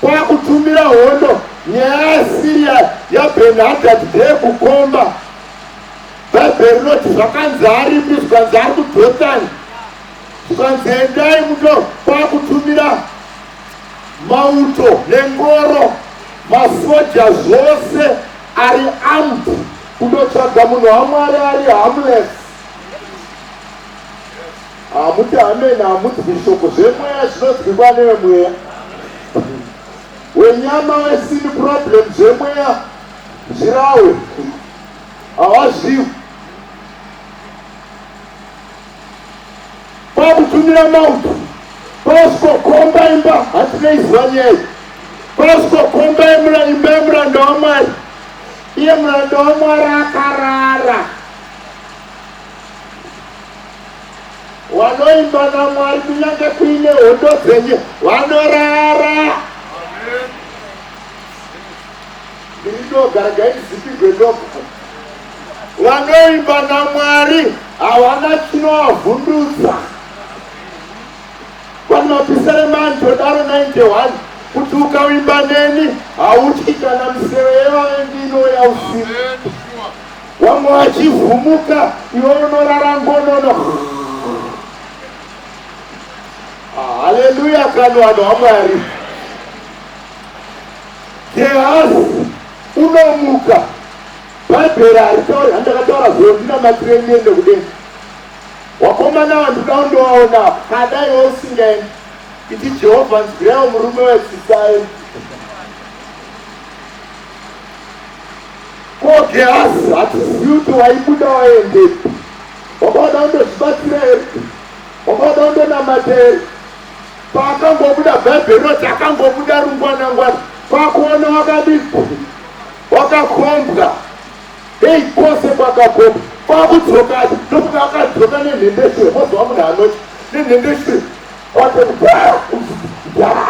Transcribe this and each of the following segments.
kwakutumira hondo nyaya yaSiria yaBenhadad ndeyekukomba. Bhaibheri rinoti zvakanzi aripi, zvikanzi ari kuDhotani, zvikanzi endai muto kwakutumira mauto nengoro masoja zvose ari amp kundotsvaga munhu wamwari ari hamles Hamuti amen hamunzwi shoko zvemweya zvinonzwikwa nevemweya wenyama wesini problem zvemweya zvirawe hawazviwi kwakutumira mauto kwausikokomba imba hatineiziva nyaya kwausikokomba yemura imba yemuranda wamwari iye muranda wamwari akarara Wanoimba naMwari kunyange kuine hondo dzenyu wanorara. Ndinoga ngaizipigwe ndoga. Wanoimba naMwari hawana chinovavhundutsa. Vanhu mapisere mani todaro 91 kuti ukavimba neni hautyi kana miseve yevavengi inouya usiku. Wamwe wachivhumuka iwe unorara ngonono. Ah, haleluya kani vanhu vaMwari. Gehazi unomuka. Bhaibheri haritauri handakataura zuro ndinamatire ndiende kudenga. Wakomana vanhu kuda undovaona kada iwe usingaendi. Iti Jehovha nzwirawo murume wetsitsaendi. Ko Gehazi hatizivi kuti waibuda waendepi? Wanga wada kundozvibatsira here? Wanga wada kundonamata here? Paakangobuda, Bhaibheri rinoti akangobuda rungwanangwana kwakuona wakadii, wakakhombwa hei kwose kwakakhombwa kwakudzokati ndokuti akadzoka nenhendeshure mozova munhu anoti nenhendeshure watoaa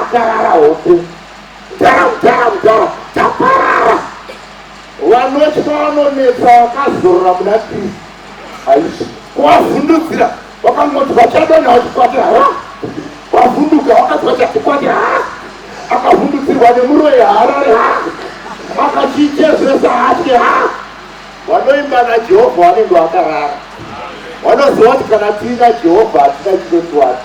akarara hope vanotya vanonetsa vakazorora muna kristu haisi kuvavhundudzira vakangoti vachadana vachikwati ha vavhunduka vakati vachatikwati ha akavhundudzirwa nemuroyi harare ha akachichezvesa hatye ha vanoimba najehovha vanenge vakarara vanoziva kuti kana tiina jehovha hatina chinotiwati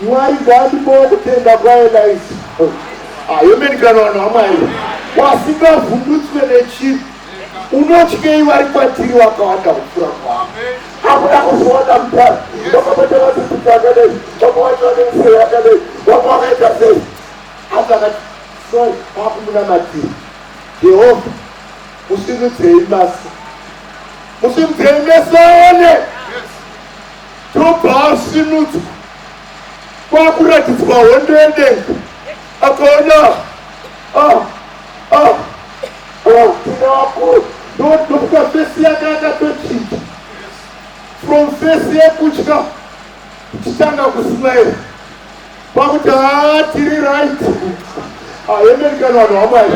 Mwari ngandipowo kutenda kwaEliza. Amen kana vanhu vaMwari wasingavhundutswe nechinhu unotyei vari kwatiri wakawanda kupfuura kwavo hakuda kuzoona mutano vakapata vasidzidza akadai vamwe vacho vane musero yakadai vamwe vakaita sei asi akati sori vakumunamatiri jehovha musimudzei masi musimudzei meso aone Ndobva asimudzwa kwakuratidzwa hondo yedenga akaona ah, ah, ah, tuna wakuru ndokuka fesi yake akatochinja from fesi yekutya tichitanga kusmaira pakuti haa tiri right aemerikani vanhu vamwari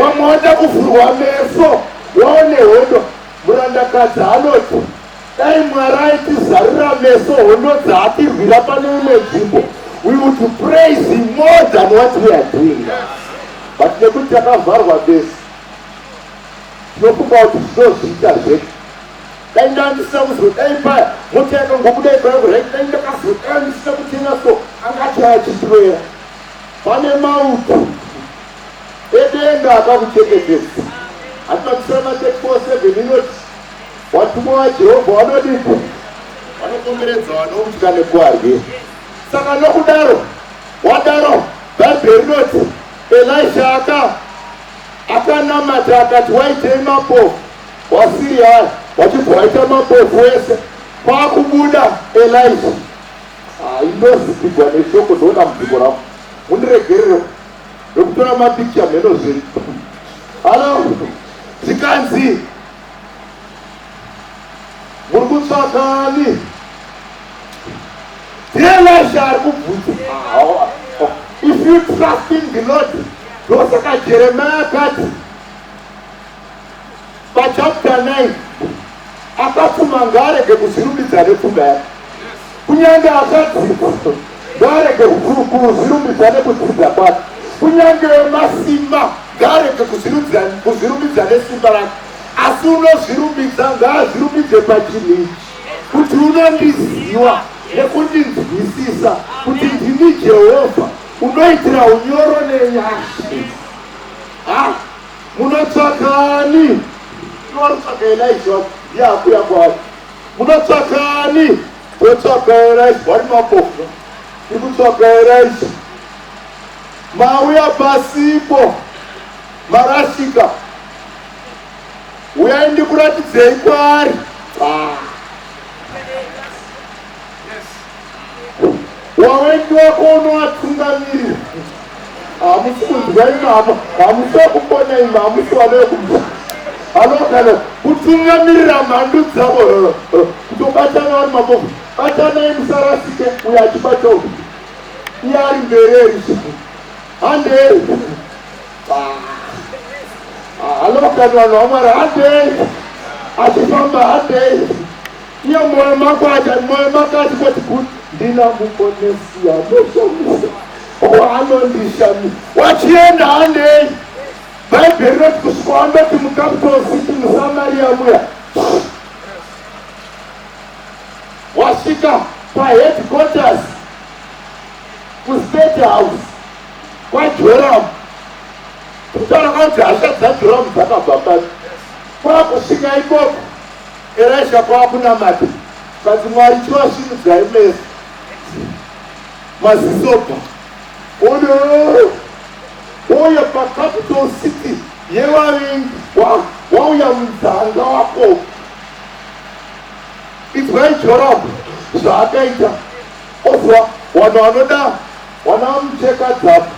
wamwe wada kuvhurwa meso waone hondo murandakadzi anoti Dai Mwari aitizarura meso hondo dzaatirwira pane imwe nzvimbo, we would praise him more than what we are doing now. But nekuti takavharwa meso, tinofunga kuti tinozviita zvedu. Dai ndandisina kuzo, dai paya mota yakangobuda ipaya kurai, dai ndakazo, dai ndisina kutenga so, angati achitirwera. Pane mauto edenga akakuchengetedza. Hatina kusema 34 7 inoti Vatumwa vaJehovha vanodiko? Vanokomberedza vanotya nekuvarwi. Saka nokudaro, wadaro, Bhaibheri rinoti Elisha aka akanamata akati, waitei mambo waSiriya aya? Wachibva waita mambofu wese. Kwakubuda Elisha. Ah, Indozipigwa neshoko ndoona mubviko ravo. Mundiregerere ndokutora mapikicha mheno zvenyu. Halo, zvikanzi Muri kutsvaga ani? Dear Elijah ari kubvunza. If you trust in the Lord, ndosaka Jeremiah akati pachapter 9 akapfuma ngaarege kuzvirumbidza nepfuma yake. Kunyange akadzidza ngarege kuzvirumbidza nekudzidza kwake, kunyange masimba ngarege kuzvirumbidza nesimba rake, asi unozvirumbidza ngaazvirumbidze pachinhu ichi kuti unondiziva nekundinzwisisa kuti ndini Jehovha unoitira unyoro nenyasha. Ha, munotsvakani? Munotsvaka Elija ndiye akuya kwaari. Munotsvaka ani? Totsvaka erais bwari mapofu. Tikutsvaka erais. Mauya pasipo. Marasika. Uyai ndikuratidzei kwaari. Ah. wawendi wako unowatungamirira hamusi kunzwa imama hamusi wekupona ima hamusi wane wekubva anogana kutungamirira mhandu dzavo kutobatana vari mabovu batanai musarasike uyo achibata uku iye ari mbereri handei anogana vanhu vamwari handei achifamba handei Iye moyo mako aja moyo mako ati koti kuti ndina mukonesi anoshamisa waanondishamisa wachienda hanei bhaibheri rinoti kusvika wandoti mucapital city musamaria muya wasvika paheadquarters kustate house kwajoramu kutaura kwanzi hasha dzajoramu dzakabva pasi kwakusvika ikoko Elisha kwakunamata kati Mwari chivasvinudzai meso mazisopa odo oya pacapital city yevavengi wauya munzanga wako idzwai jorabu zvaakaita ozwa vanhu vanoda vana vamucheka dzapo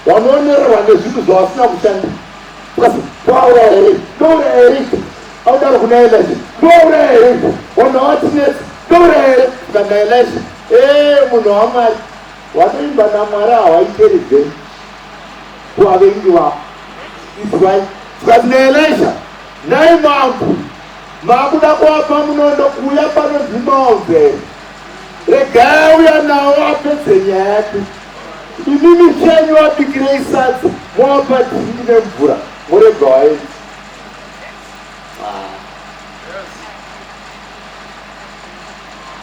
Vanoonererwa nezvinhu zvavasina kushanda plus kwauraya here ndouraya here ipo audaro kuna Elisha ndouraya here ipo vanhu havatinetsi ndouraya here kana Elisha ee eh, munhu wamwari watoimba namwari hawaiteribve kuvavengi vavo izwai zvazi naelesha nhai mambo makuda kuapa munondo kuuya panonzi maonzere regai uya nawo apedze nyaya yake Imimi chenyu wabikirei sadza mowapa dhindi nemvura morega waenzi.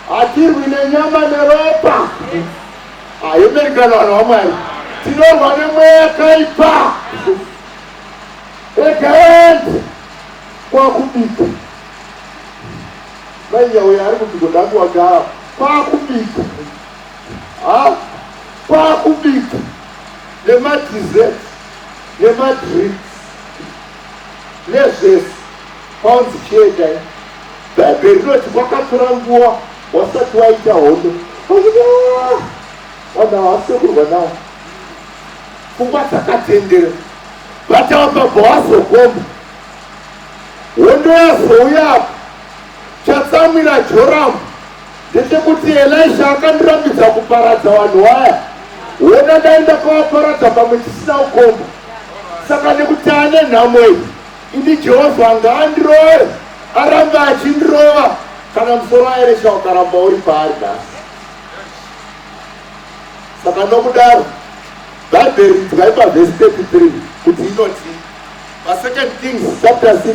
Hatirwi nenyama neropa. Ayemerikana vanhu vamwari. Tinorwa nemweya yakaipa. Regaendi kwakubika. Mai nyauya ari kuti godakuwagara kwakubika. Ha, kwakubika nemadessert nemadrinks nezvese kwaunzi chienda i bhaibheri rinoti kwakatora nguva wasati waita hondo ah, vanhu havasekurwa nawo pfungwa dzakatendera vatavabhabha wazokomba hondo yazouyapo chatsamwira joramu Ndechekuti Elisha akandirambidza kuparadza vanhu waya, wona ndaenda kwavaparadza pamwe chisina kukomba. Saka nekuti ane nhamo iyi, ini Jehovha ngaandirove, aramba achindirova kana musoro waElisha ukaramba uri paari nhasi. Saka nokudaro, Bhaibheri idzwai pavhesi 33 kuti inoti, paSecond Kings chapter 6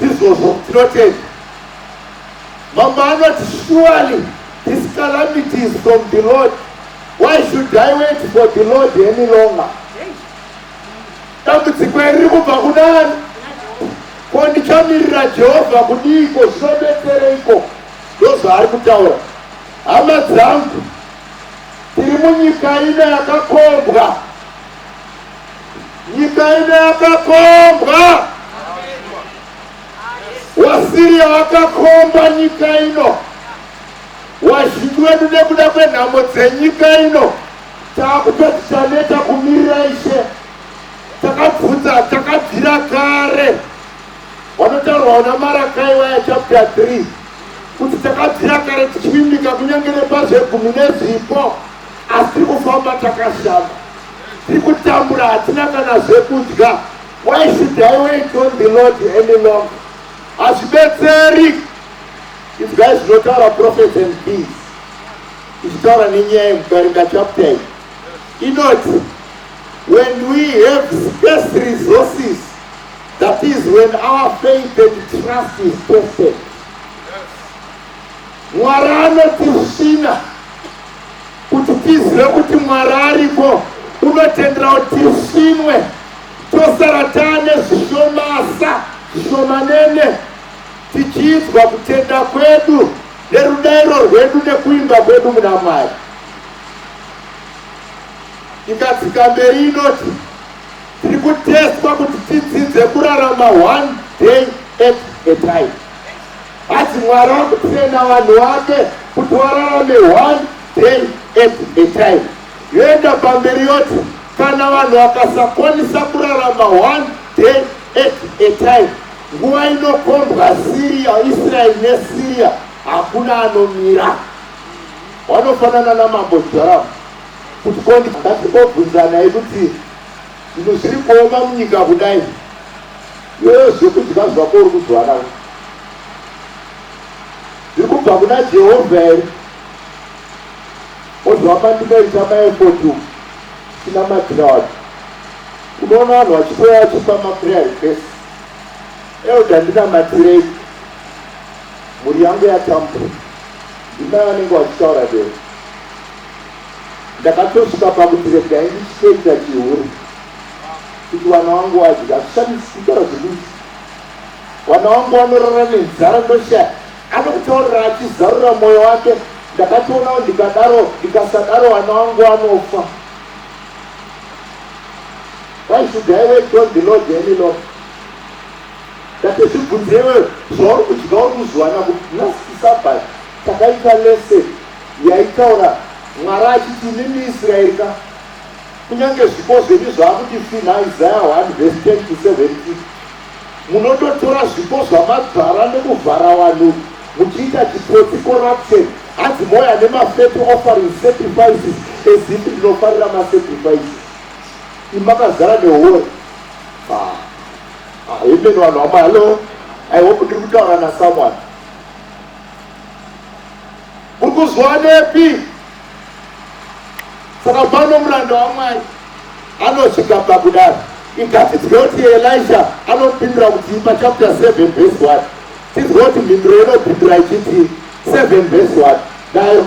izvozvo tinotenda mambo anoti surely this calamity is from the lord why should i wait for the lord any longer dambudziko iri riri kubva kunani ko ndichamirira jehovha kudiiko zvinobetsereiko ndozvaari kutaura hama dzangu tiri munyika ina yakakombwa Nyika ine yakakombwa, waSiriya wakakomba nyika ino, wazhinji wedu nekuda kwenhamo dzenyika ino takutoti taneta kumirira ishe, takabvunza takabvira kare wanotaurwa una Marakai waya chapter 3 kuti takabvira kare tichivimbika kunyange nepazvegumi nezvipo asi tiri kufamba takashama Tikutambura hatina kana zvekudya. Why should I wait on the Lord any longer? Hazvibetseri. Inzwai zvinotaura prophets and kings. Ichitaura nenyaya yemukarinda chapter iyi. Inoti when we have scarce resources that is when our faith and trust is tested. Mwari anotisvina. kuti tizive kuti mwari ariko unotendera kuti tisvinwe tosara taane zvishomasa zvishomanene tichiidzwa kutenda kwedu nerudairo rwedu nekuimba kwedu muna mwari ikadzika mberi inoti tiri kutestwa kuti tidzidze kurarama one day at a time Hanzi Mwari akutrena vanhu vake kuti wararame one day at a time. Yoenda pamberi yoti kana vanhu vakasakwanisa kurarama one day at a time, nguva inokombwa Syria, Israel neSyria, hakuna anomira. Wanofanana namambo Joram kuti kondi ngatibobvunzana yekuti Zvinhu zviri kuoma munyika kudai iwewe zvekudya zvako uri kuzwana zviri kubva kuna Jehovha here ozvamba ndinoita maefoti sina madhira wacho unoona vanhu vachitoya vachipa maprayer request elda ndinamatirei mhuri yangu yatambura ndimai vanenge vachitaura dero Ndakatosvika pakuti regai ndichitoita chihure kuti wana wangu wadya hazvishamisi kutaura zvekuti wana wangu wanorara nenzara ndoshaya anokutaurira achizarura mwoyo wake ndakatoonawo ndikadaro ndikasadaro wana wangu anofa why should i wait on the lord any lord that zvibvunzewe zvauri kudya uri kuzviwana kuti last sabbat takaita lese Yaitaura Mwari achiti, Imimi Israeri ka, kunyange zvipo zvenyu zvaakuti finha, Isaya 1 vhesi 10 to 17, munototora zvipo zvamadzvara nekuvhara vanhu muchiita chitsotsi, corruption, hanzi mouya nemafeto offering sacrifices as if ndinofarira masacrifices, imi makazara nehuori. Ah, ah, amen vanhu vamwe, hallo, I hope ndiri kutaura nasomeone. Uri kuzwanepi? Saka pano muranda waMwari anosvika pakudaro igatidzwe kuti Elisha anopindura kuti pa chapter 7 verse 1 tidzwe kuti mhinduro inopindura ichiti 7 verse 1 nayo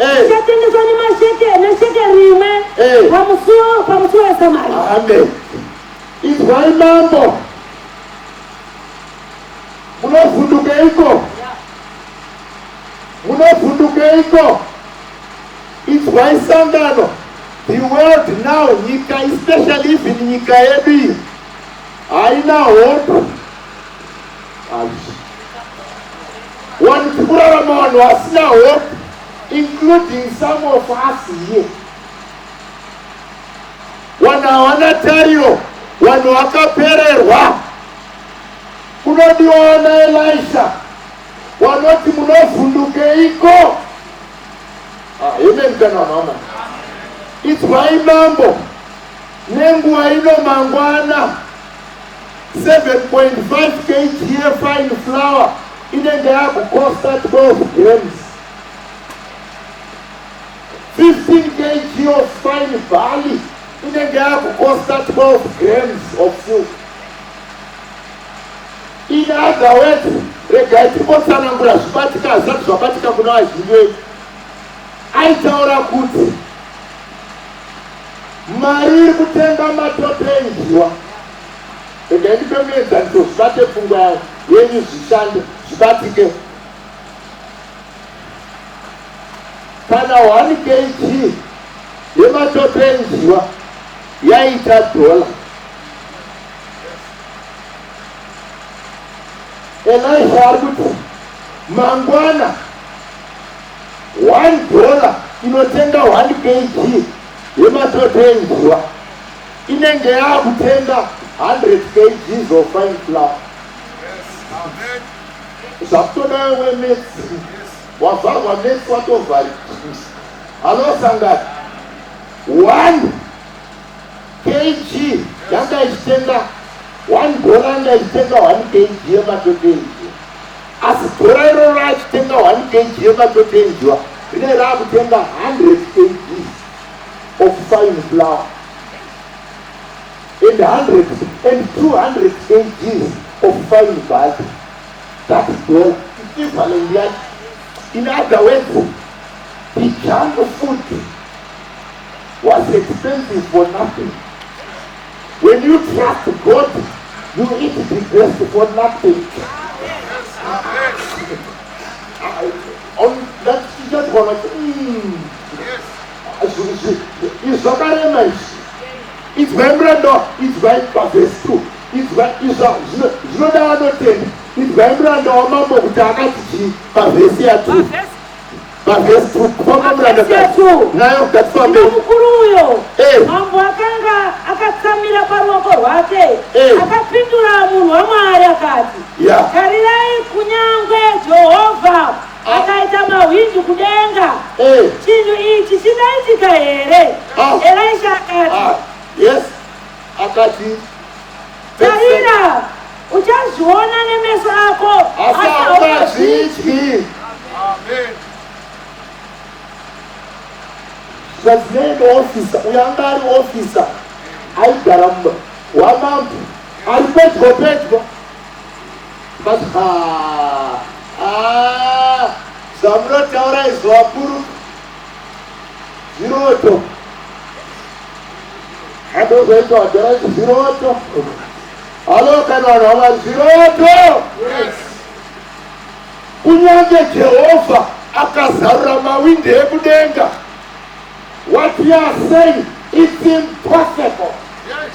Eh. Zvichatengeswa nemasheke nesheke rimwe eh. pamusuwo pamusuwo wesamari. Amen. Izwai mambo. Munovhundukeiko? Munovhundukeiko? Izwai sangano. The world now, nyika especially even nyika yedu iyi haina hope One kurarama vanhu vasina hope including some of us here. Vanhu hawana tariro, vanhu vakapererwa. Kunodiwa vana Elisha vanoti munovhundukeiko? Ah, amen kana mama. Idzwai mambo nenguva ino mangwana. 7.5 kg yefine flour inenge yakukosta 12 grams 15 kg of fine barley inenge yakukosta 12 grams of silk in other words regai timbotsanangura zvibatika hazvisati zvabatika kuna vazhinji vedu aitaura kuti Mari iri kutenga matope injiwa. Regai ndipe muenzaniso zvibate pfungwa yawo yenyu zvishande zvibatike. Kana 1 kg yematope enjiwa yaita dhola elisha ari kuti mangwana One dollar inotenga one kg yematoto enjiwa inenge yaakutenga 100 kgs of fine flour. Zvakutoda wewe metsi wavharwa metsi watovharika. Halo sangati one kg yanga ichitenga one dollar yanga ichitenga one kg yematoto enjiwa. Asi dhora iroro raachitenga 1 kg yematotenjwa rinenge raakutenga 100 kg of fine flour and 100 and 200 kg of fine butter. That dollar equivalent yake. In other words, the junk food was expensive for nothing. When you trust God, you eat the best for nothing. Ondatijatwana izvakarema izvi idzwai muranda idzwai pavhesi two idzwai izva zvinoda vanotenda idzwai muranda wamambo kuti akati chii pavhesi yatu Mavhesi kukomba murandakadzi nayo ngatifambe. Mukuru uyo eh. mambo akanga akatsamira paruoko rwake eh. akapindura munhu waMwari akati, tarirai kunyangwe Jehovha ah. akaita mahwindi kudenga, eh. chinhu ichi chingaitika here? Ah. Elisha akati, ah. akati tarira uchazviona nemeso ako asi haungazvidyi zvazinenge ofisa uyo anga ari ofisa aigara mumba wamambo ari pedyo pedyo but zvamunotaura izvo vakuru Zviroto. Andozoita wadhara zviroto. Halo kana vanhu hava zviroto. Yes. Kunyange Jehovha akazarura mawindi ekudenga. What you are saying it's impossible. Yes.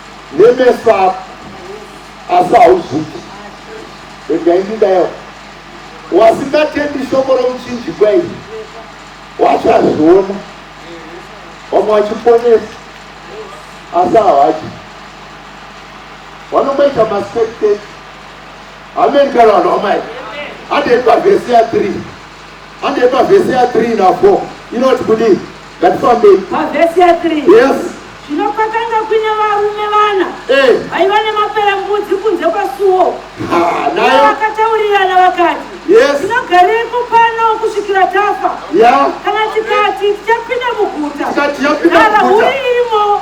nemeso ako asi hauzviti regai ndidaiwa wasingatendi shoko romuchinjikwa iri wacho azviona vamwe vachiponesa asi havachi vanongoita maspectate ameni kana vanhu vamai andei pavhesi ya 3 andei pavhesi ya 3 na 4 inoti kudii Ngatifambei. Pavhesi ya 3. Yes. Zvino kwakanga kuine varume vana Eh. vaiva nemaperembudzi kunze kwasuo. Ah, Ivo nayo. vakataurirana vakati, Yes. tinogareiko pano kusvikira tafa? Yeah. Kana tikati tichapinda muguta, Tikati yapinda rara muguta. huri irimo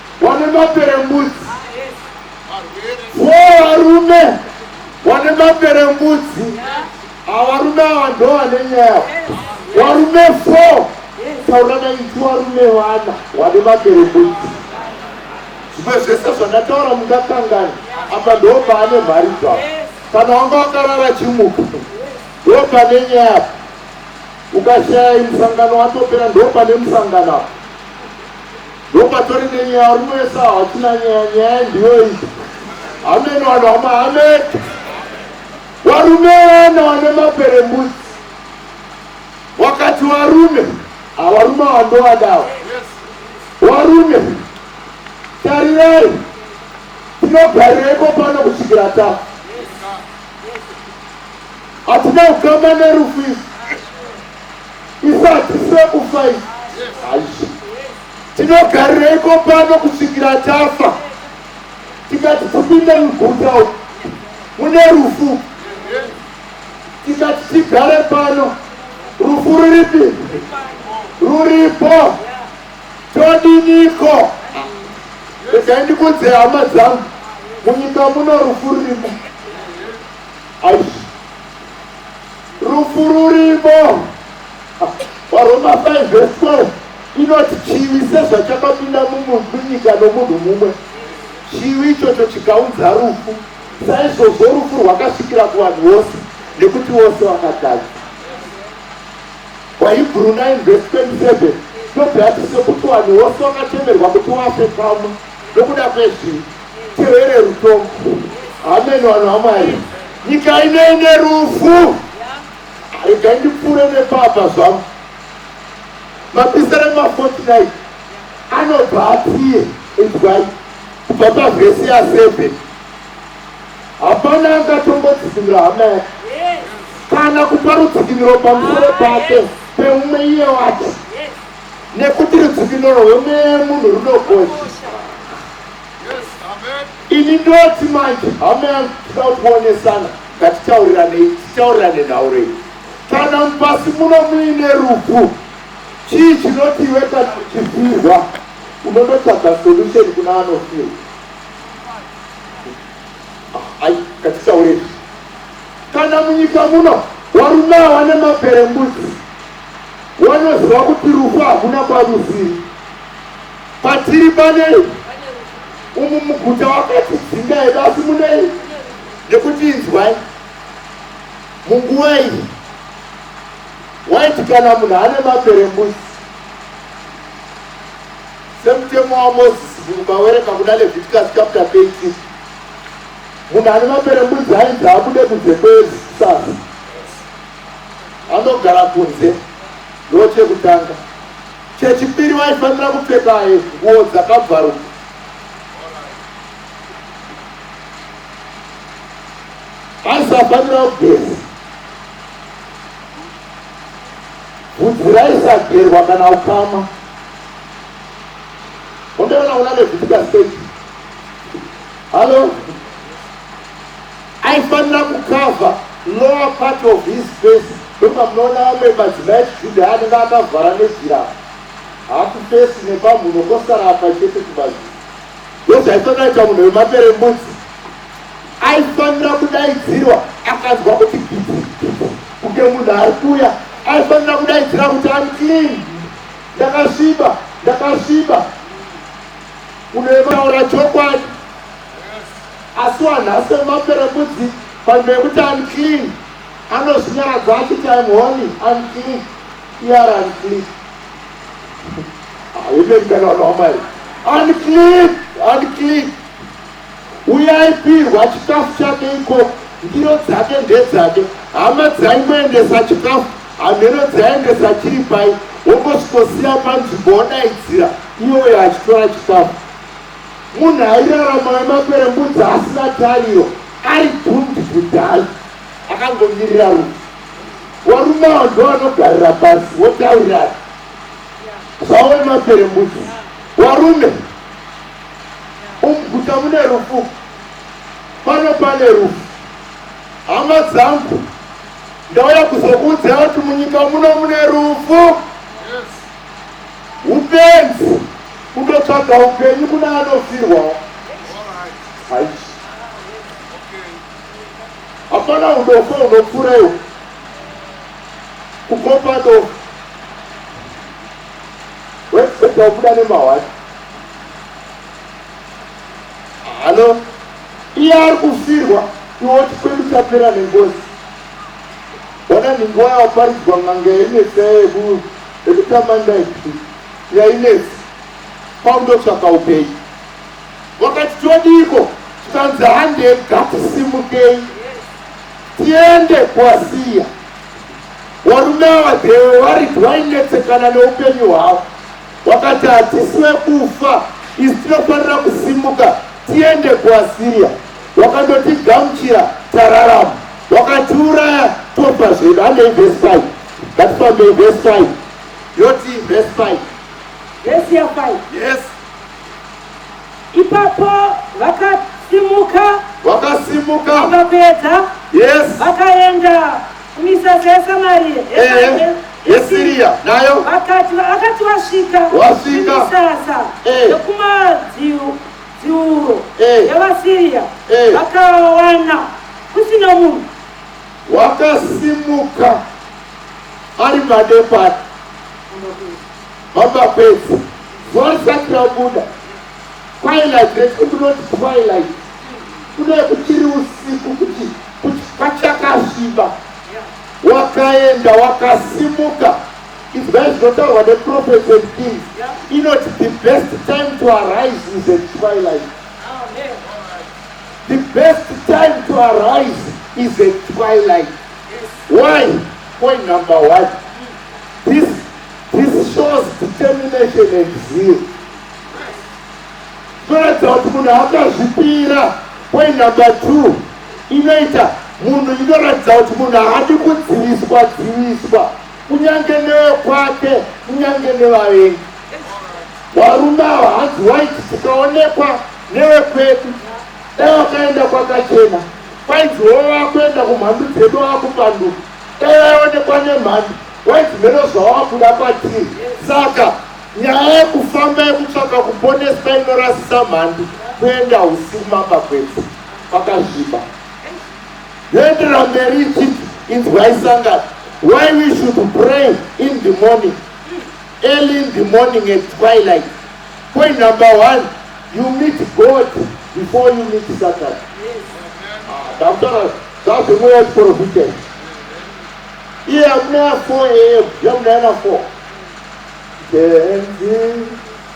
Wane maperembudzi. Wo varume. Wane maperembudzi. Avarume ava ndo vane nyaya. Warume 4. Taura na iti warume wana. Wane maperembudzi. Zvimwe zvese zvandataura mungakangani. Apa ndo paane mhari dzavo. Kana wanga wakarara chimuka. Ndo pane nyaya. Ukashaya musangano watopera ndo pane musangano apa. Ndopatori nenyaya runoesa hatina nyaya nyaya ndiyo iyi hameno vanhu vamahamed varume vana vane mapere mbudzi wakati varume havarume vandovadawa varume tarirai tinogarireiko pano kusvikira tafa hatina ukama nerufu izvi isati sekufa iyi haishi tinogarireiko pano kusvikira tafa tikati tipinde muguta uku mune rufu tikati tigare pano rufu ruripi ruripo todiniko regai ndikunze hama dzangu munyika muno rufu rurimo aishi Rufu rurimo. Varoma 5 verse 12 inoti chivi sezvachakapinda munyika nomunhu mumwe, chivi ichocho chikaunza rufu, saizvozvo rufu rwakasvikira kuvanhu vose nekuti vose vakatadza. VaHebhuru 9 verse 27 ndobva yati sekuti vanhu vose vakatemerwa kuti vafe kamwe nokuda kwezvi tirwere rutombo hameno vanhu vamwari nyika inoende rufu regai ndipfuure nepapa zvangu mapisere mafortnit anobva apiye inzwai kubva pavhesi yaseven hapana angatongodzikinira hama yake kana kupa rudzikiniro pamusoro pake peumwe iye wati Nekuti rudzikinuro rwemweya yemunhu runokosha. Ini ndoti manje hama yangu tida kuonesana ngatitauriranei titaurirane nhauro iyi. Kana mupasi muno muine rufu chii chinoti iwe kana uchifirwa unonotsvaga solution kuna anofirwa. Ah, Ai ngatitaurei. Kana munyika muno warume awa nemabere mbudzi Wanoziva kuti rufu hakuna kwarusiri. Patiri panei umu muguta wakatidzinga hedu asi munei nekuti inzwai munguva iyi waiti kana munhu ane mapere mbuzi semutemo wamozisi mubawereka kuna leviticus chapter 18 munhu ane mapere mbuzi ainzi abude kunze kwesasa Anogara kunze ndochekutanga. Chechipiri vaifanira kupfeka nguo dzakabvaruka. Aisafanira kugeza. Vhudzi raisagerwa kana ukama. Undeona una nevhudzi kaseti. Halo? Aifanira kukavha lower part of his face ndopamunoona vamwe madzimai echijudha anenge akavhara nejira hakufesi nepamhuno kosara apa chete kumazi ndozvaifanira ita munhu wemapere mbudzi aifanira kudaidzirwa akanzwa kuti kunge munhu ari kuya aifanira kudaidzira kuti am clean ndakasviba ndakasviba unoemaura chokwadi Asi wanhasi wemaperembudzi panzvimbo yekuti unclean anozvinyaradza achiti I'm holy, I'm clean. Iye ari unclean. Amen kana vanhu vaMwari. Unclean, unclean. Uye aipirwa chikafu chake ikoko, ndiro dzake ndedzake. Hama dzaingoendesa chikafu, hamheno dzaiendesa chiri pai, wongosvikosiya panzvimbo wodaidzira, iye uyo achitora chikafu. Munhu airarama wemakwerembudzi asina tariro ari doomed to die akangomirira rufu. Varume ava ndovanogarira pasi votaurirana zvavo vemakwerembudzi. Varume umuguta mune rufu pano pane rufu. Hama dzangu ndauya kuzokuudzai kuti munyika muno mune rufu. Hupenzi kunotsvaga hupenyu kune anofirwawo haish hapana udofo hunopfurewo kukopa dofo wekuita kubuda nemahwati halo iye ari kufirwa iwo chikwedu chapera nengozi ona nhingi wayawaparidzwa n'anga yainetsea yekuu Ndekutamanda ipi yainetsa kwaundotsvaka upenyu wakati todiiko tikanzi hande gatisimukei tiende kwasiya varume ava dhewe vari wainetsekana neupenyu hwavo wakati hatisi vekufa isi tinofanira kusimuka tiende kwasiya wakandotigamuchira tararama wakatiuraya tofa zvedu handeivesai That song may verse 5. Yoti verse 5. Verse ya 5. Yes. Ipapo vakasimuka. Vakasimuka. Vakapedza. Yes. Vakaenda kumisasa yeSamaria. Eh. eh. Yesiria nayo. Vakati vakati wasvika. Wasvika. Kumisasa. Eh. Yokumadziwo. Dziuro. Eh. Yevasiria. Eh. Vakawana. Kusina munhu. Wakasimuka ari madepati baba kwedzi zuva risati rabuda twilight reti kunoti twilight kudae kuchiri usiku kuti kuti kwachakasviba wakaenda wakasimuka izvai zvinotaurwa neprofet and kings inoti the best time to arise is at twilight The best time to arise is a twilight. Why? Point number one. This, this shows determination and zeal. Zvinoratidza kuti munhu akazvipira. Point number two. Inoita munhu inoratidza kuti munhu haadi kudziviswa dziviswa kunyange newekwake kunyange nevavengi varume ava hanzi waiti tikaonekwa Nevekwedu dai wakaenda kwakachena kwainzi wowe wakuenda kumhandu dzedu wakupanduka dai vaionekwa nemhandu wainzi mheno zvawakuda kwatiri saka nyaya yekufamba yekutsvaka kuponeswa inorasisa mhandu kuenda usiku mapakwenzi pakazviba yoendera mberi ichiti inzwaisangana why we should pray in the morning Early in the morning at twilight. Point number one, you meet God before you meet Satan. Ndakutaura zvazvimweya kuprofita. Iye amuna 4 am, yamunana 4. Benzi.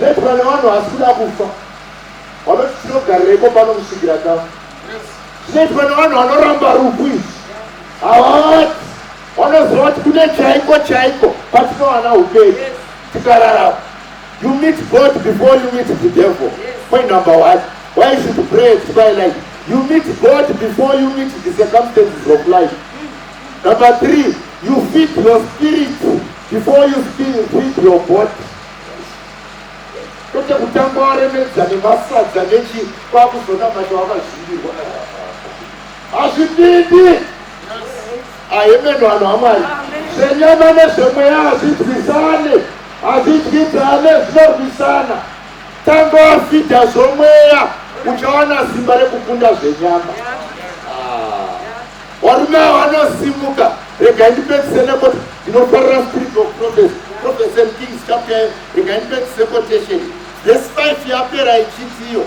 Let vana vanhu hasi kuda kufa vanoti tinogarirepo pano kusvikira ta zvinoitwa nevanhu vanoramba rufu izvi havavati vanoziva kuti kune chaiko chaiko patinowana upenyu tikararama you meet god before you meet the devil point number one why you should pray at twilight you meet god before you meet the circumstances of life number three you feed your spirit before you feed your body kwete kutanga waremedza nemasadza nechi kwakuzoda mati wakazvimbirwa hazvipindi ahemeno vanhu vamwari zvenyama nezvemweya hazvidwisane hazvidyidzane zvinorwisana tanga wafidha zvomweya uchawana simba rekukunda zvenyama Varume ava vanosimuka, rega ndipedzise nekoti, ndinofarira spirit of prophecy, prophecy and kings chapter yeyo, rega ndipedzise quotation. Verse 5 yapera ichitiyo.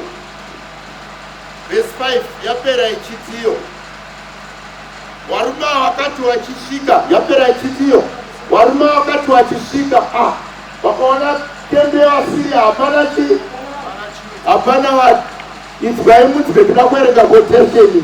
Verse 5 yapera ichitiyo. Varume ava vakati vachisvika, yapera ichitiyo. Varume ava vakati vachisvika, ah, vakaona tende yavasiria hapana chii hapana vati idzwai mudzwe tida kuerenga kotesheni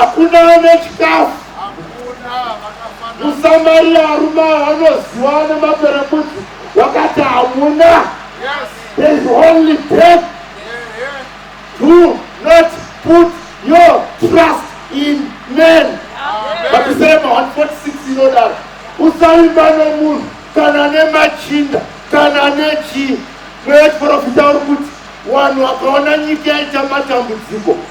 Hakuna ane chikafu. Musamariya arume anoziwa nemaperembudzi wakati hamuna. There is only death. Do not put your trust in men. Mapisema 146 inodaro. Usaimba nemunhu kana nemachinda kana nechii. Mweya chiporofita uri kuti wanhu wakaona nyika yaita matambudziko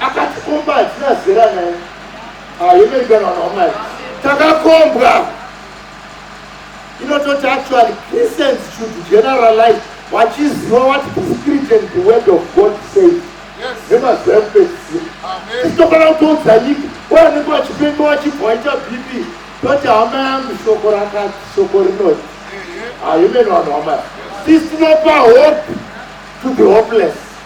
akatikomba hatina zera naye ayemerikana vana wamwari takakombwa inototi actually christians should generalize vachiziva what the spirit and the word of god says nemazuva ekupedzisira tisitokana kutoudza nyika waanenge vachipenga vachibva vaita bp toti hama yangu shoko rakati shoko rinoti ayemerikana vana wamwari sisi tinopa hope to the hopeless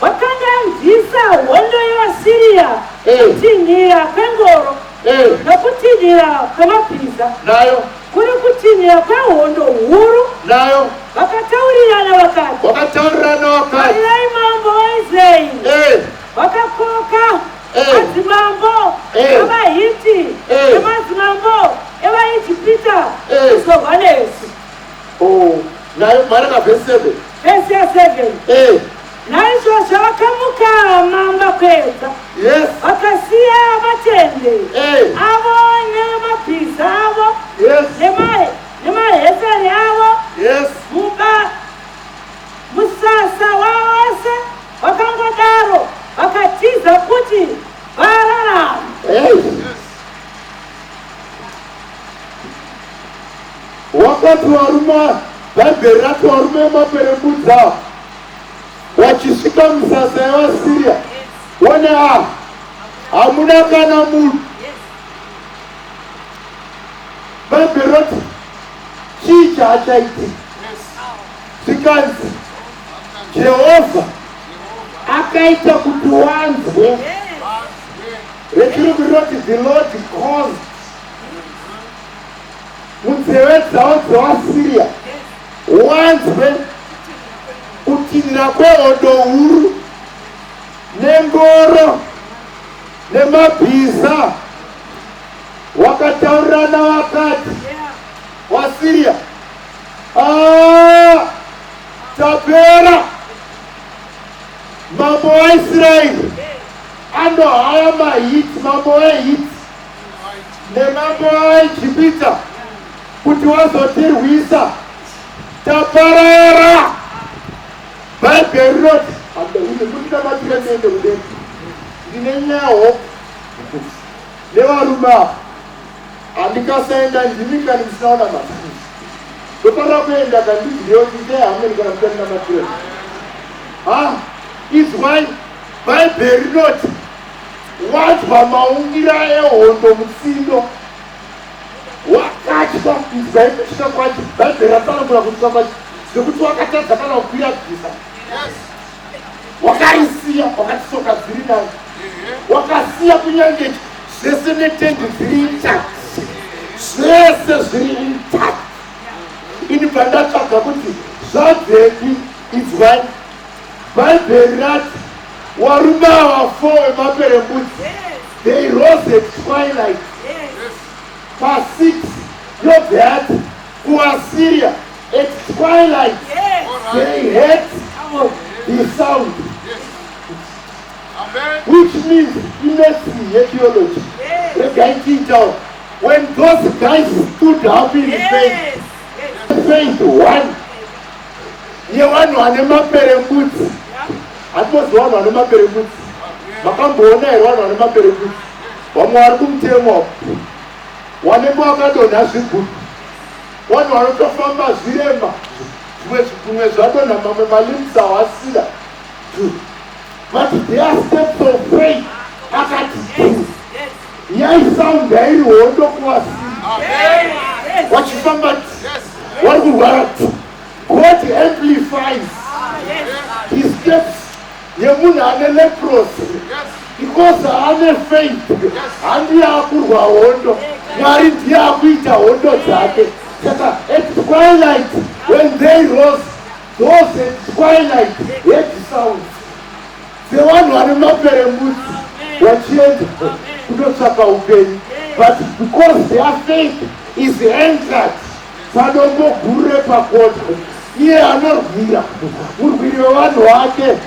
Wakanganzisa hondo yevaSiriya, kutinhira kwengoro nokutinhira kwemabhiza, nayo kuri kutinhira kwehondo huru, nayo vakataurirana vakati, wakataurirana wakati, Tarirai mambo waIsraeri wakakoka madzimambo evaHiti nemadzimambo evaIjipita kuzorwa nesu. Oh, nayo maraka verse 7. Verse 7. Eh. Naizvozvo vakamuka mamba kwedza. Yes. Vakasiya matende. Eh. Avo nemabhiza avo. Yes. Nemahe nemahesari avo. Yes. Muba musasa wavose vakangodaro vakatiza kuti vararama. Yes. Wakati waruma Bhaibheri rati waruma yemaperembudzi awa wachisvika musasa yevaSiria one a hamuna kana munhu Bhaibheri roti chii chaachaiti zvikanzi Jehovha akaita kuti wanzwe yes rechirubi rinoti the lord caused munzeve dzavo dzevasiriya wanzwe kutinhira kwehondo huru nengoro nemabhiza wakataurirana vakati wasiriya ah, tapera mambo waisraeri anohaya mahiti mambo wehiti nemambo aijipita kuti wazotirwisa taparara bhaibheri rinoti kundinamatira ndiende kudenga ndine nyawo nevarume ava handikasaenda ndimi kani ndisinaona matuzi ndofanira kuenda kandiziyo ndite hameni kana kuta ndinamatira ha izwai bhaibheri rinoti Wanzwa maungira ehondo mutsindo wakatya inzwai kutya kwacho bhaibheri ratsanangura kutya kwacho zvekuti wakatadza kana kukuyadziza wakarisiya wakatisoka dziri nayo wakasiya kunyange zvese netendi dziri intact zvese zviri intact ini bva ndatsvaga kuti zvazepi inzwai Bhaibheri rati warume ava four vemaperembudzi they rose at twilight pasix yobve yati kuasiria at twilight they heard the sound which means imesini yetheology regai tiitawo when those guys stood up in faith faith one yevanhu vane maperembudzi hatibozi vanhu vane maperembudzi makamboona here vanhu vane maperembudzi vamwe vari kumutemo apo wanenge wakadonha zvigudu vanhu vanotofamba zvirema zvimwe zvigunwe zvadonha mamwe malimsa wasira but their steps of faith akati yaisaundi yairi hondo kuvasiri vachifamba vari kurwara god amplifies his steps yemunhu ane leprosi because ane faith handiye akurwa hondo mwari ndiye akuita hondo dzake saka at twilight when they rose those at twilight head sounds sevanhu vane maperembudzi vachienda kunotsvaka upenyu but because their faith is entered padombo guru repakota iye anorwira murwiri wevanhu wake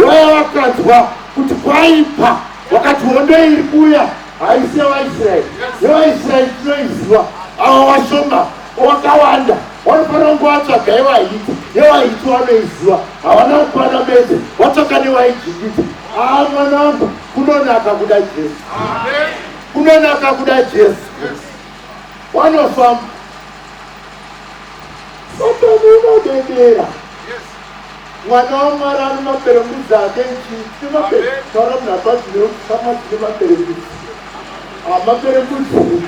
waya vakanzwa kuti kwaipa wakati hondo iri kuya haise vaisraeri nevaisraeri tinoiziva ava vashoma wakawanda wanofanira kunge watsvaga yevahiti yevahiti wanoiziva havana kukwana bedze watsvaga nevaijinditi aa mwana wangu kunonaka kuda jesu kunonaka kuda jesu wanofamba satani unodedera mwana wamwari ane maperembudzi ake nchiimaetaura munhu apazineusama dzine maperembudzi amaperembudzi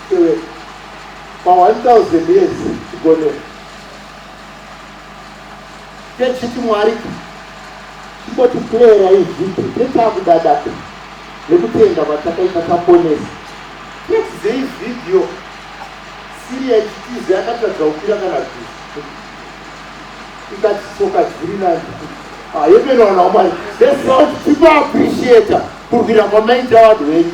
Tevere. Pa 1000 years chigonera. Ke chiti Mwari ka. Chingoti player izvi tetakudadaka nekutenda kwatakaita taponesa. Nextday video Syria ichitiza yakatadza kukwira kana bhizi. Ikati soka dziri nani. Ah, yepeno vanhu vamwari. This sound people appreciate kurwira kwamaita vanhu venyu.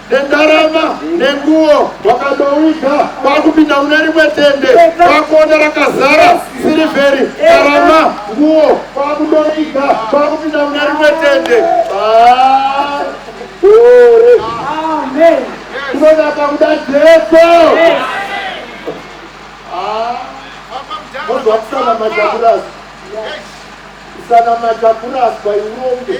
nendarama nenguwo wakadowiga kwakupinda mune rimwe tende kwakuona rakazara sirivheri ndarama nguwo kwakudowiga kwakupinda mune rimwe tende kunonaka kuda jesu mozwa kusana majakurasi kusana majakurasi kwaiuronge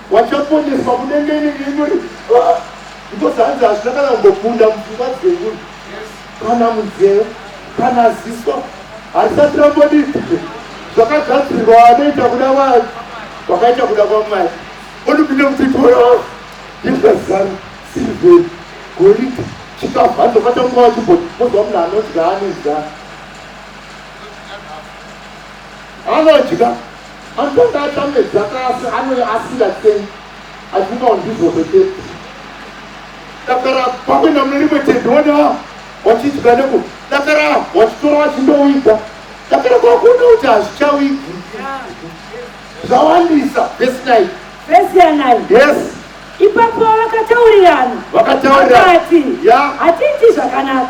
Wachaponeswa munenge ini ndimuri ah, because hanzi hazvina kana kumbokunda mupfungwa dzenyu kana munzeve kana ziso harisati rambodii zvakagadzirwa anoita kuda vanhu vakaita kuda kwamwari onipinde kuti toraa ndezvazanu siriveri goridhe chikafu hanzobata nguva wachiboti mozwa munhu anodya anodya anodya Anotanga atambe dzakasi anoya asiya sei afunga ndizvo zveketi dakara pakuenda mune rimwe tende wona wachidya neku dakara wachitora wachindowiga dakara kwakuona kuti hazvichawigi zvawandisa vesi nai vesi yanai yes ipapo vakataurirana vakataurirana vakati yeah. hatiiti zvakanaka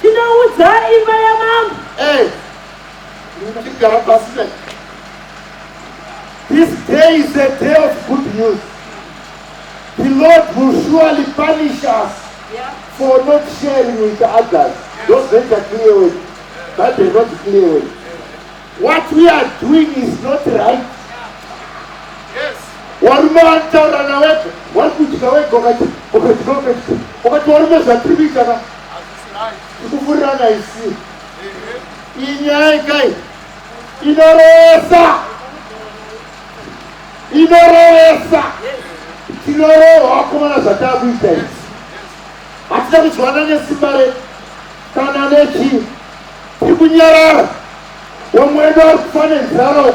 Tinoudza imba yamambo. Eh. Tigara pasi ne. This day is a day of good news. The Lord will surely punish us yeah. for not sharing with others. Yeah. Those that are clear with. That they're not clear with. What we are doing is not right. Yes. Warume vanotaura nawepo, vari kudya wega ukati ukati ukati warume zvatiri kuita ka kukufurirana isi inyaya kai inorowesa inorowesa tinorohwa wakomana zvatakuita isi hatina kuzwana nesimba re kana nechi tiri kunyarara wamwedu ari kufanenzaro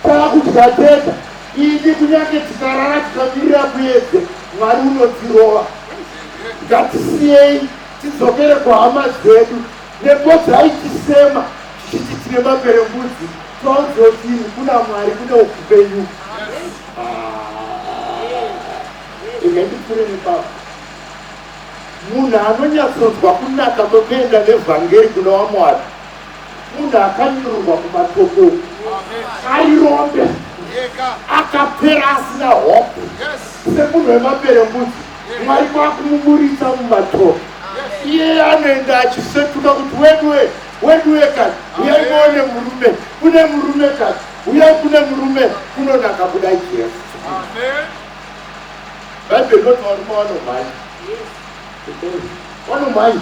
takudya tega Ini kunyange tikarara tikamirira muedze Mwari unotirova. Ngatisiyei tidzokere kuhama dzedu nepo dzaitisema tichiti tine maperembudzi tonzwa kuti kuna Mwari kune upenyu. Ine ndipfure nepapa. Munhu anonyatsonzwa kunaka kwekuenda nevhangeri kuna waMwari Munhu akanyururwa kumatoko ari rombe akapera asina hope semunhu wemabere mbudzi mwari kwakumuburitsa mumatoko iye anoenda achisetuka kuti wedwe wedwe kani uyai muone murume kune murume kani uyai kune murume kunonaka kuda jesu bhaibheri roti varume vanomhanya vanomhanya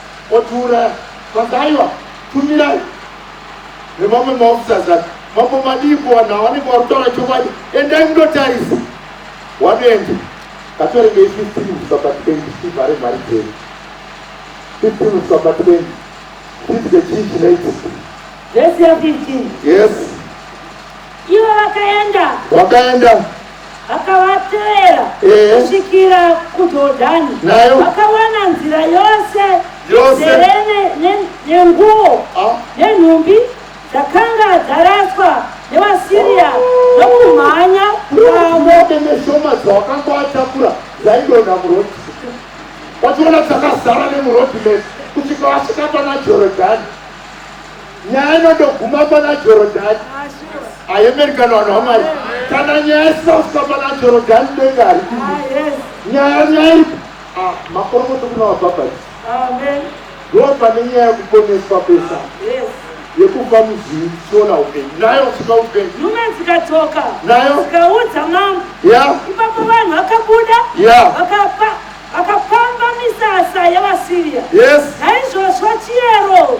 Otiuraya kwanzi aiwa tumirai nemamwe maofficers ake mambo madii ko vanhu havanenge vari kutaura chokwadi endai munotarisa wanoenda katoregei fifteen kusvika patwendi tivhare mari dzedu fifteen kusvika patwendi tidye chii chinoitika Verse ya 15. yes Ivo vakaenda. wakaenda Akavatevera Ehe. kusvikira kuJordani, Nayo. vakawana nzira yose Yose. izere ne- ne- nenguo Ah. nenhumbi dzakanga dzaraswa nevaSiria nokumhanya kwavo. Ndinote neshoma dzawakanga watakura dzaidonha muroti. Wachiona dzakazara nemuroti mese kusvika wasvika pana Jorodhani. nyaya inondoguma pana jorodhani ayemerikana vanhu vamwari kana nyaya isina kusvika pana jorodhani denga haripindi ah, nyaya nyaya ipi ah, makorokoto kuna vabhabhati ndova nenyaya yekuponeswa pesa yekuva muzivi tichiona upenyu nayo usika upenyu nhume dzikadzoka nayo dzikaudza mambo ipapo vanhu vakabuda vakapa vakapamba misasa yevasiriya naizvozvo chiyero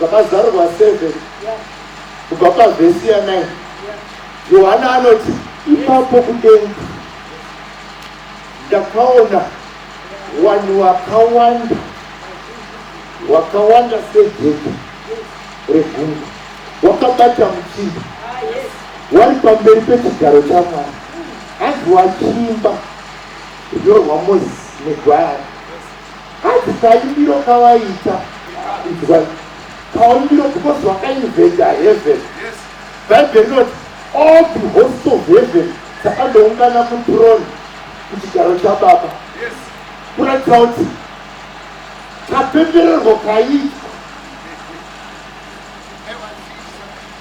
Vakazarurwa 7 kubva pavhesi ya 9 Yohana anoti ipapo kudenga ndakaona vanhu vakawanda wakawanda sedhedhe regungwa wakabata muchimba wari pamberi pechigaro chamwari hanzi wachimba zvinyorwa mozisi negwayana Hanzi kaimiro kavaiita inzwai kaimiro because vakainventa heaven bhaibheri rinoti all the host of heaven dzakandoungana kutrone kuchigaro chababa kuratidza kuti kapembererwo kaiitwa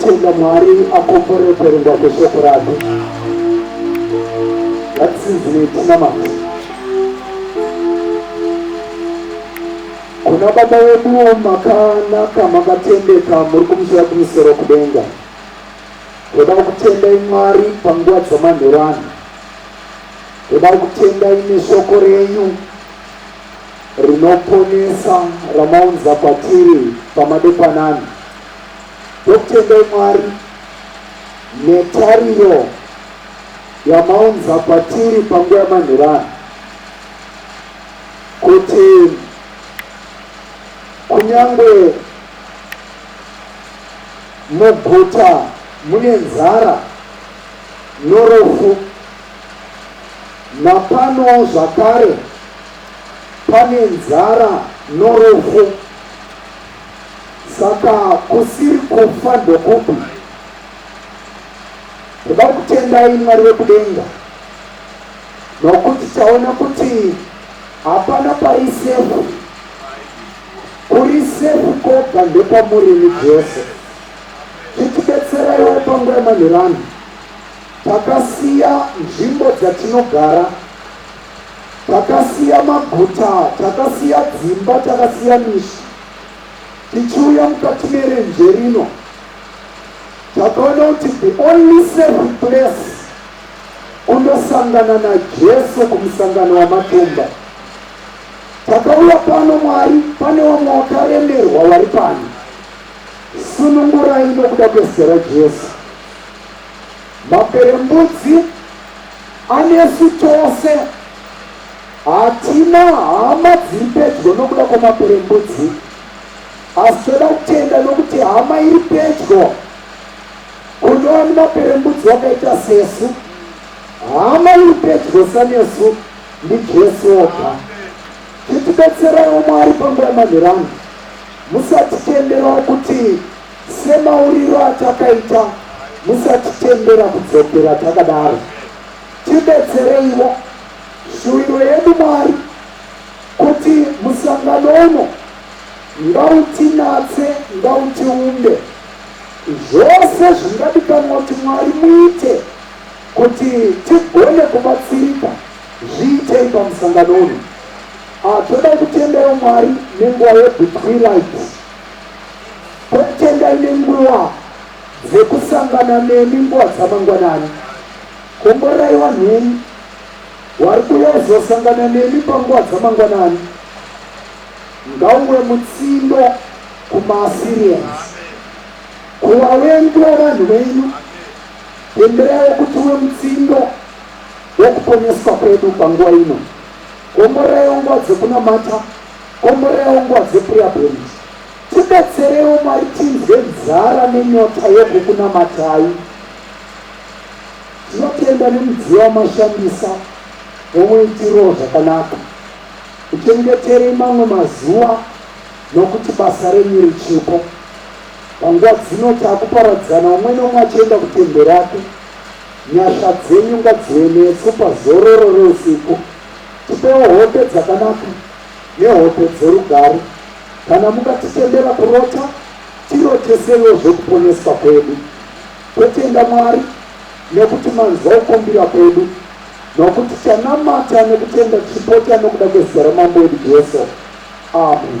Tenda Mwari akomborere kuverengwa kweshoko rake. Ngatisidzirei tinamata kuna Baba vedu makanaka, makatendeka, muri kumusoro kumusoro kudenga. Todao kutendai Mwari panguva dzamanheru ano. Todao kutendai neshoko renyu rinoponesa ramaunza kwatiri pamadepanani. Tokutendai Mwari netariro yamaunza kwatiri panguva yamanheru ano kuti kunyangwe Muguta mune nzara norufu. Napanowo zvakare pane nzara norufu. Saka kusiri kufa ndokupi? Toda kutendai Mwari vekudenga nokuti taona kuti hapana pari sefu. Kuri safe koga ndekwamuri imi Jesu chitibetseraiwo panguva yemanheru ano takasiya nzvimbo dzatinogara takasiya maguta takasiya dzimba takasiya mishi tichiuya mukati merenje rino takaona kuti the only safe place kundosangana najesu kumusangano wamatumba Takauya pano Mwari pane vamwe wakaremerwa vari pano sunungurai nokuda kwezita raJesu maperembudzi anesu tose hatina hama dziri pedyo nokuda kwamaperembudzi asi toda kutenda nokuti hama iri pedyo kunova nemaperembudzi wakaita sesu hama iri pedyo sanesu Ndi Jesu oga. Chitibetseraiwo Mwari panguva yemanheranhu. Musatitenderawo kuti semauriro atakaita musatitendera kudzokera takadaro. Tibetsereiwo. Shuwiro yedu Mwari kuti musangano uno ngautinatse ngautiumbe. Zvose zvingadikanwa kuti Mwari muite. Kuti tigone kubatsirika, zviitei pamusangano uno. Ah, toda kutendera Mwari nenguva yebitwilight. Totendai nenguva dzekusangana nemi nguva dzamangwanani. Komborerai vanhu venyu vari kuuya kuzosangana nemi panguva dzamangwanani. Ngauwe mutsindo kumaAssyrians, kuvavengi vavanhu venyu. Bembera yokuti uve mutsindo wokuponeswa kwedu panguva ino. Komboreraiwo nguva dzekunamata, komboreraiwo nguva dzeprayer point. Tibetsereiwo Mwari tinzwe nzara nenyota yokukunamatai. Tinotenda nemudziyo wamashandisa womuitiro zvakanaka. Muchengeterei mamwe mazuva nokuti basa renyu richipo. Panguva dzino takuparadzana umwe neumwe achienda kutende rake. Nyasha dzenyu ngadzive nesu pazororo reusiku. Tipewo hope dzakanaka nehope dzerugare. Kana mukatitendera kurota, tiroteseiwo zvekuponeswa kwedu. Totenda Mwari nekuti manzwa kukumbira kwedu nokuti tanamata nekutenda tichipota nokuda kwezita raMambo wedu Jesu. Amen.